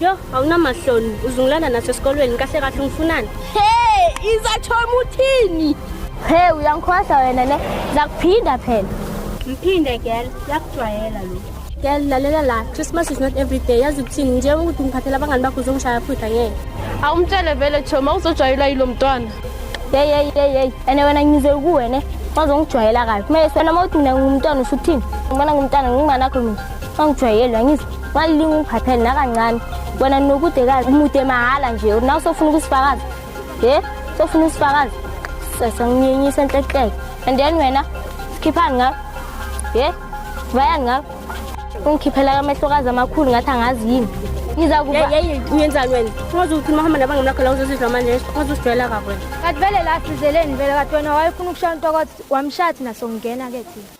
Yo, awunamahloni. Uzungilanda naso esikolweni kahle kahle ungifunani? Hey, izathoma uthini? Hey, uyangikhohlwa wena ne. Zakuphinda phela. Mphinde girl, yakujwayela lo. Girl, lalela la. Christmas is not every day. Yazi ukuthini nje ukuthi ngiphathela abangani bakho uzongishaya futhi angeke. Awumtshele vele Choma uzojwayela yilo mntwana. Hey, hey, hey, hey. Ene wena ngize kuwe ne. Wazongijwayela kabi. Kumele sona mawuthi mina ngumntwana usuthini? Ngibona ngumntwana nginganakho mina. Angijwayelwa ngizwe. Walilinga ungiphathele nakancane. Wena nokudekazi umude mahhala nje. Nawe sofuna ukusifakaza. He? Sofuna usifakaza. Sesa nginyenyisa enhlehleke. And then wena sikhiphani ngawe. He? Bayani ngawe? Ungikhiphela amehlokazi amakhulu ngathi angazi yini. Ngiza kuba uyenzani wena? Ungaze uthi mahamba nabanga mlakho la uzozizwa manje. Ungaze usijwayela kakhulu. Kathi vele la sizeleni vele kathi wena wayefuna ukushaya intokothi wamshathi nasongena ke thina.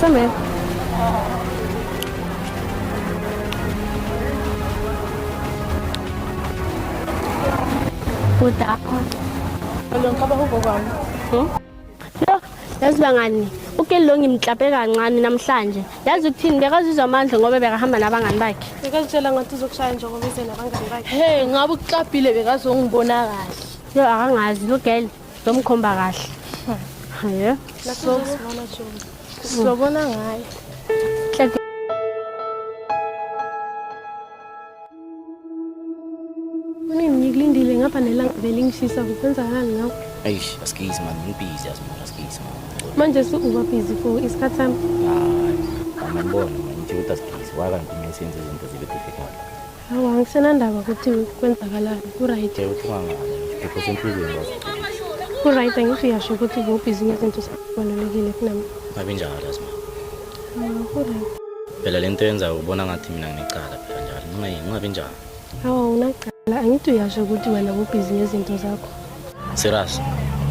Це ми. Kudako. Along ka ba ho bobang? Hmm? Yo, yazi bangani, uKelly lo ngimklape kancane namhlanje. Yazi ukuthini bekazizwa amandla ngoba bekahamba nabangani bakhe. Bekazitshela ngathi uzokushaya nje ngoba ize nabangani bakhe. Hey, ngabe ukuklabhile bekazongibona kahle. Yo akangazi lo girl Lomkhomba kahle. Yeah. So sobona ngaye. Mina ngikulindile ngapha nelanga belingishisa kukwenzakani ngawo. Eish, askies man, ngibhizi azimona askies man. Manje su uba busy for isikhathi sami. Hayi, mama ngibona manje ukuthi askies waka ngikumensenze izinto zibe difficult. Awu angisenandaba ukuthi kwenzakalani ku-right. Ku-right angithi uyasho ukuthi bubhizi ngezinto zibalulekile kunami. Ngabe njalo yazi ma. Awu ku-right. Phela le nto yenzayo ubona ngathi mina nginecala phela njalo. Ngingayi ngingabi njalo. Awu unacala angithi uyasho ukuthi wena bubhizi ngezinto zakho. Siras,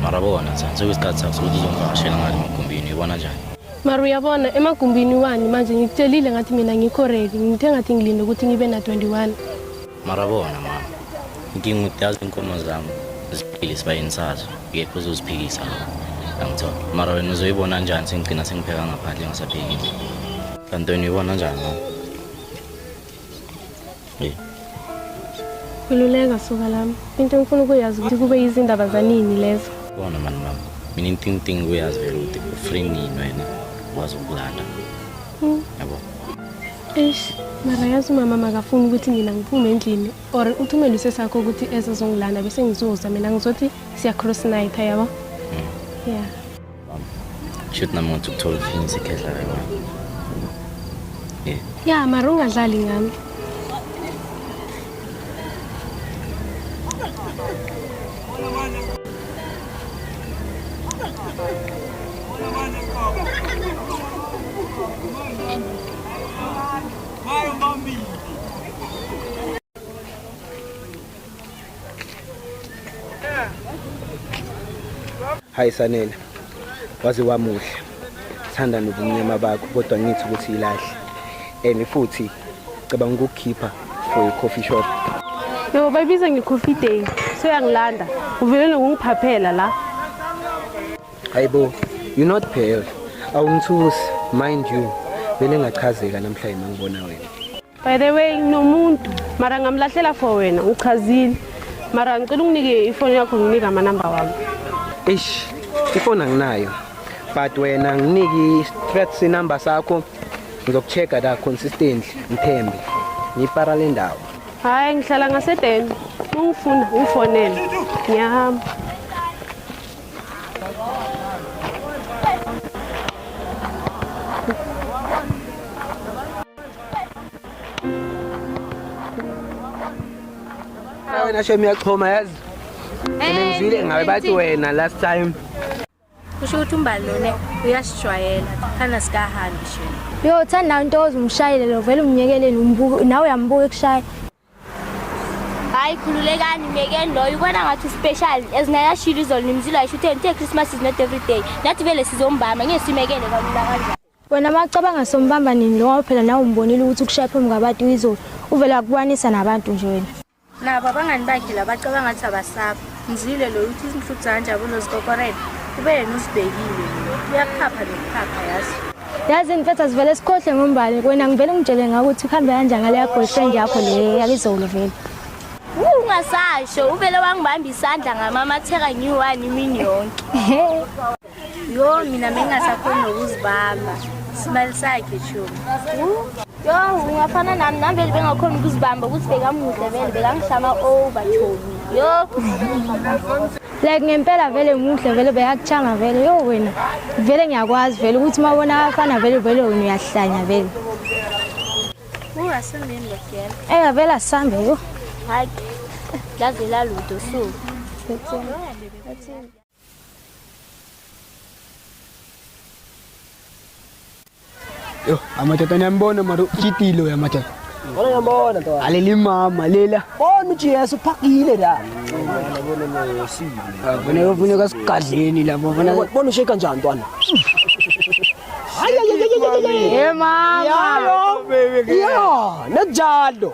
mara bona cha sekuyisikhathi sakho sokuthi uzongivakashela ngani emagumbini uyibona njani? Mara uyabona emagumbini wani manje ngikutshelile ngathi mina ngikho ready ngithe ngathi ngilinde ukuthi ngibe na 21. Mara bona mama, inkinga ukuthi yazi inkomo zami ziphile isibayeni sazo ngekho uzoziphikisa lokho. Angithola. Mara wena uzoyibona njani sengigcina sengipheka ngaphandle ngisaphekile? Kanti wena uyibona njani mama? Khululeka soka lami. Into engifuna ukuyazi ukuthi kube izindaba zanini lezo. Bona mani mama. Mina into engidinga ukuyazi vele ukuthi ufree nini wena wazi ukulala. Hmm. Yabo. Eish, mara yazi umama makafuni ukuthi mina ngiphume endlini or uthumele usesakho ukuthi ezozongilanda bese ngizoza mina ngizothi siya cross night yabo. Hmm. Yeah. Shoot nami ngathi ukuthola ufinisa ikhehla la wami. Yeah. Ya, mara ungadlali ngami. Vai, Bambi! hayi sanele waze wamuhle thanda nobumnyama bakho kodwa ngithi ukuthi ilahle and futhi cabanga ukukhipha for a coffee shop yebo bayibiza nge-coffee day soyangilanda uvele nokungiphaphela la hayibo you not pale awungithusi mind you bele ngachazeka namhlanje mangibona wena By the way nginomuntu mara ngamlahlela for wena uchazile mara ngicela unginike ifoni yakho nginike amanamba wami. Eish ifoni anginayo but wena nginiki strats number sakho ngizokuchecka la consistently ngithembe ngipara le ndawo. Hayi ngihlala ngasedeni ungifuna ufonele ngiyahamba. wena shem uyaxhoma yazi ngizwile ngawe bathi wena last time kusho ukuthi umbalone uyasijwayela khana sikahambi shem yo thanda into ozumshayele lo vele umnyekeleni umbuka nawe uyambuka ekushaya hayi khululekani myekeni loyo ubona ngathi uspecial ezinayashilo izolo nimzilo ayisho utheni uthe christmas is not every day nathi vele sizombama ngeke simekele kalula kanjani wena macabanga sombamba nini lowa phela nawe umbonile ukuthi ukushaya phambi kwabantu izolo uvele akubanisa nabantu nje wena nabo abangani bakhe la bacabanga ukuthi abasapha ngizwile lo ukuthi izinhluthu zanjabulo zikokorela kube yena usibhekile uyakuphapha nokuphapha yazi yazi mfethu asivele sikhohle ngombali wena ngivele ngitshele ngako ukuthi uhambe kanjani ngaleya boyfriend yakho le yabizolo vele ungasasho uvele wangibamba isandla ngamamatheka ngiyi-one imini yonke Yo mina mengasakhona nokuzibamba isibali sakhe shumi yo ungafana nami nami vele bengakhona ukuzibamba ukuthi bekamuhle vele bekangihlama over chomi yo like ngempela vele muhle vele beyakuchanga vele yo wena vele ngiyakwazi vele ukuthi uma ubona abafana vele vele wena uyahlanya vele ungasambeni logela eh vele asambe yo hayi laze laludo so Yo, amatata niyambona mara utyitile uya matata. Wala niyambona ntokazi. Aleli mama lela. Bona uJesu uphakile la. Bona ufuneka sigadleni lapho bona. Bona usheka njani ntwana? Hayi hayi hayi hayi. Hey mama. Yalo. Yeah, najalo.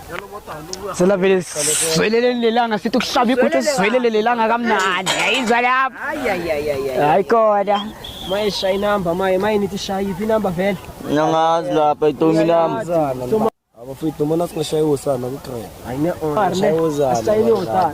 Sela vele svelele lelanga sithi ukuhlaba iguthu svelele lelanga kamnandi. Yayizwa lapho. Hayi hayi hayi. Hayi kodwa. Maye shaya inamba maye maye nithi shaya iphi inamba vele. Nyangazi lapha itomi lami. Abafowethu mona singashayiwa usana ku-train. Hayi ne-on. Ashayile usana.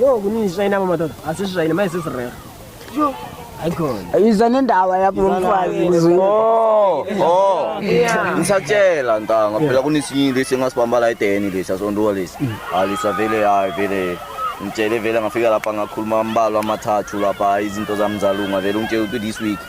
Yo kunini sishayina madoda asishayine manje sesirera. Yo ayikhona. Yiza nendawa yakho lomfazi. Oh, oh. Ngisatshela ntanga phela kunesinye lesi engasibamba la edeni lesi asonduka lesi. Mm. Alisa vele hayi vele. Ngitshele vele ngafika lapha ngakhuluma ambalwa amathathu lapha izinto zami zalunga vele ungitshela ukuthi this week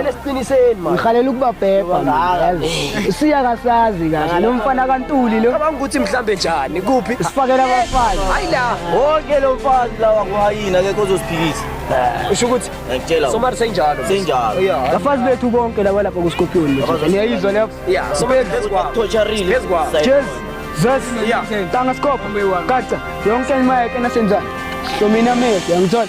Elesiqiniseni manje. Ngikhalela ukubabhebha ngazi. Siya kasazi kahle lo mfana kaNtuli lo. Cabanga ukuthi mhlambe njani kuphi? Sifakela abafana. Hayi la. Wonke lo mfazi lawa kwayini akekho ozosiphikisa. Usho ukuthi ngiyakutshela. Somari senjalo. Senjalo. Yeah. Bafazi bethu bonke laba lapha ku Scorpion. Niyayizwa lapha. Yeah. Somari phezu kwa. Torturing. Phezu kwa. Cheers. Zes. Yeah. Tanga Scorpion. Kaca. Yonke imali enasenza. Hlomina mese. Yangithola.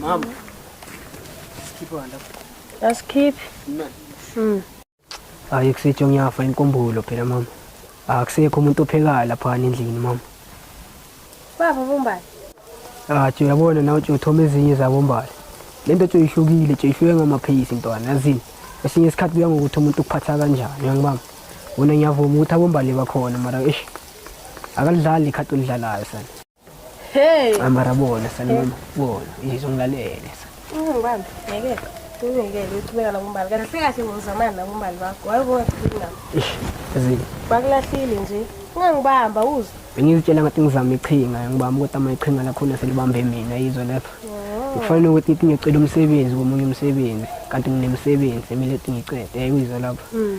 Mama. Sikhiphe wanda. Asikhiphe. Mina. Mm. Hayi kusitsho ngiyafa inkumbulo phela mama. Akusekho umuntu ophekayo lapha endlini mama. Baba bombali. Ah, tjo yabona nawe tjo uthoma ezinye zabombali. Lento tjo ihlukile, tjo ihluke ngama pace ntwana, yazini. Esinye isikhathi kuya ngokuthi umuntu ukuphatha kanjani, uyangibamba. Wona ngiyavuma ukuthi abombali bakhona mara eish. Akalidlali ikhathi olidlalayo sana. Hey. Amara bona sana mama, bona izongilalele. Ungibambe, ngeke kulungele ukuchubeka nabombali kanti sekahle ngozamani nabombali bakho wayebongathini nami ezike bakulahlile nje ungangibamba uzwe bengizitshela ngathi ngizama iqhinga ngibamba ukuthi ama iqhinga lakhona selibambe mina yizwe lapho kufanele ukuthi ithi ngicela umsebenzi komunye umsebenzi kanti nginemsebenzi emile ethi ngicede yayi uyizwe lapho hmm.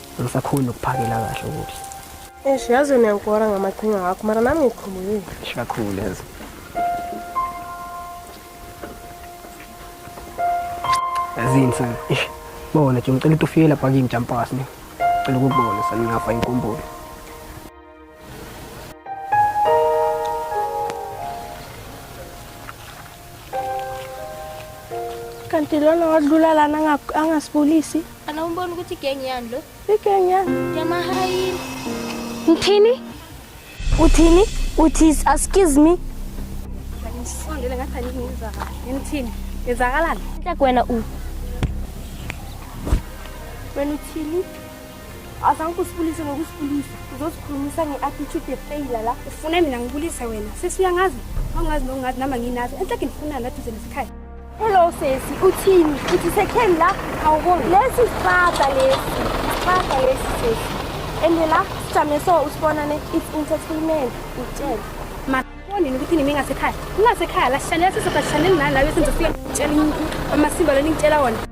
angisakhoni nokuphakela kahle ukuthi Eish yazi wena ngikora ngamaqhinga akho mara nami ngikhululile. Eish kakhulu yazi. Yazini sana. Eish bona nje ngicela ukuthi ufike lapha kimi Jampasi ne. Ngicela ukubona sana ngafa inkumbulo. kanti lona wadlula lana angasibulisi ana umbona ukuthi igengi yani lo igengi yani yamahayini ngithini uthini uthi excuse me ngisondele ngathi angizwa kahle ngithini ngezakalani nhleke wena u wena uthini Azange usibulise ngokusibulisa. Uzosikhulumisa nge-attitude yefailure la. Ufuna mina ngibulise wena. Sisi uyangazi? Awungazi nokungazi nama nginazi. Enhle ngifunani aduze nesikhathi. Hello sesi, uthini? Uthi sekheni la? Awuboni. Lesi sibaba lesi. Sibaba lesi sesi. Ende la sijame so usibona ne it's entertainment. Utshela. Mabonini ukuthi nimi ngasekhaya. Ngasekhaya la sishalela sizoba sishalela nala bese ngizofika ngitshela amasimba leni ngitshela wona.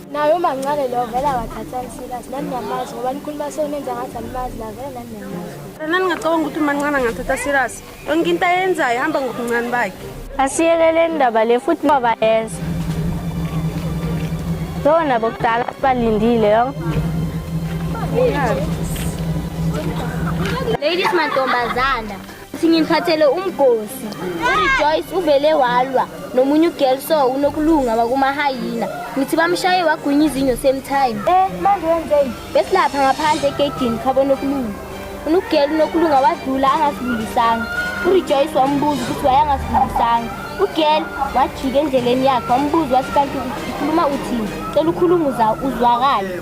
naye umancane lo vele akathathani serious nani niyamazi ngoba nikhuluma sonenza ngathi animazi la vele nani niyamazi lana ningacabanga ukuthi umancane angathatha serious yonke into ayenzayo ihamba ngobuncane bakhe asiyekeleni ndaba le futhi baba yenza lo nabo kudala sibalindile yo ladies mantombazana Uthi ngiphathele umgosi. URejoice uvele walwa nomunye ugirl so unokulunga wakumahayina. Ngithi bamshaye wagwinya izinyo same time. Eh manje wenzeni? Besilapha ngaphandle egedini khabo nokulunga. Unugirl unokulunga wadlula angasibulisanga. URejoice wambuza ukuthi wayangasibulisanga. Ugirl wajika endleleni yakhe wambuza wathi kanti ukhuluma uthini? Cela ukhuluma uzwakale.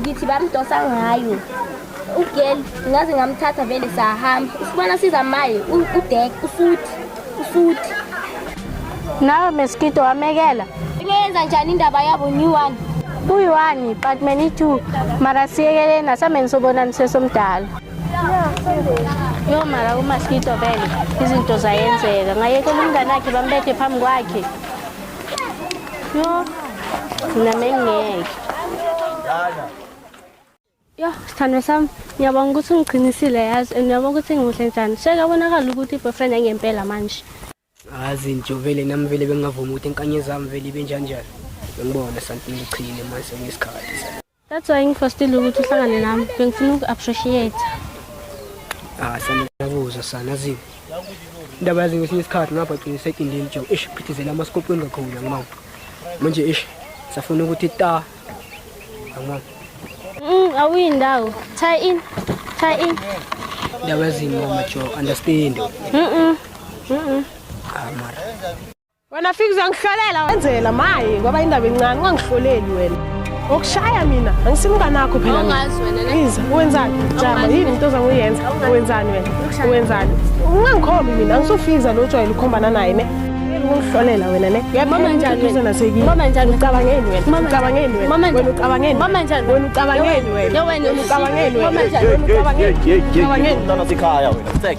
ngithi bamdosa ngayo ugel ngaze ngamthatha vele sahamba usibona siza maye udek usuthi usuthi nawe meskito wamekela ineyenza njani indaba yabo new one kuyi-one but many two mara siyekeleni asameni sobonaniswe somdala yo mara umaskito vele izinto zayenzeka ngayekela umngane akhe bambethe phambi kwakhe Yo. Nami ngeke. Dala. Yo, sithandwa sami, ngiyabonga ukuthi ungiqinisile yazi and ngiyabonga ukuthi ngimuhle njani. Sheka bonakala ukuthi i-boyfriend engempela manje. Azi nje vele nami vele bengingavumi ukuthi inkanye zami vele ibe njanjani. Ngibona something lichile manje ngesikhathi. That's why ngifostile ukuthi uhlangane nami. Bengifuna uku-appreciate. Ah, sanakuzwa sana ziwe. Indaba yazi ngesinye isikhathi ngapha gcina sekindini jo. Ish phithizela amaskopweni kakhulu ngimama. Manje ish safuna ukuthi ta. Ngimama. Mm, awuyi ndawo. Tie in. Tie in. Indaba yazi ngimama jo understand. Mhm. Mhm. Ah, mara. wena fika uzangihlolela wenzela maye ngoba indaba encane ungangihloleli wena ngokushaya mina angisimngane akho phela iza wenzani jama yini into ozanguyenza wenzani wena wenzani ungangikhombi mina angisofiza lo jwayele ukukhombana naye ne ungihlolela wena ne mama njani wena nasekini mama njani ucabangeni wena ucabangeni wena mama njani ucabangeni mama njani wena ucabangeni wena yo wena ucabangeni wena mama njani ucabangeni ucabangeni mntana sikhaya wena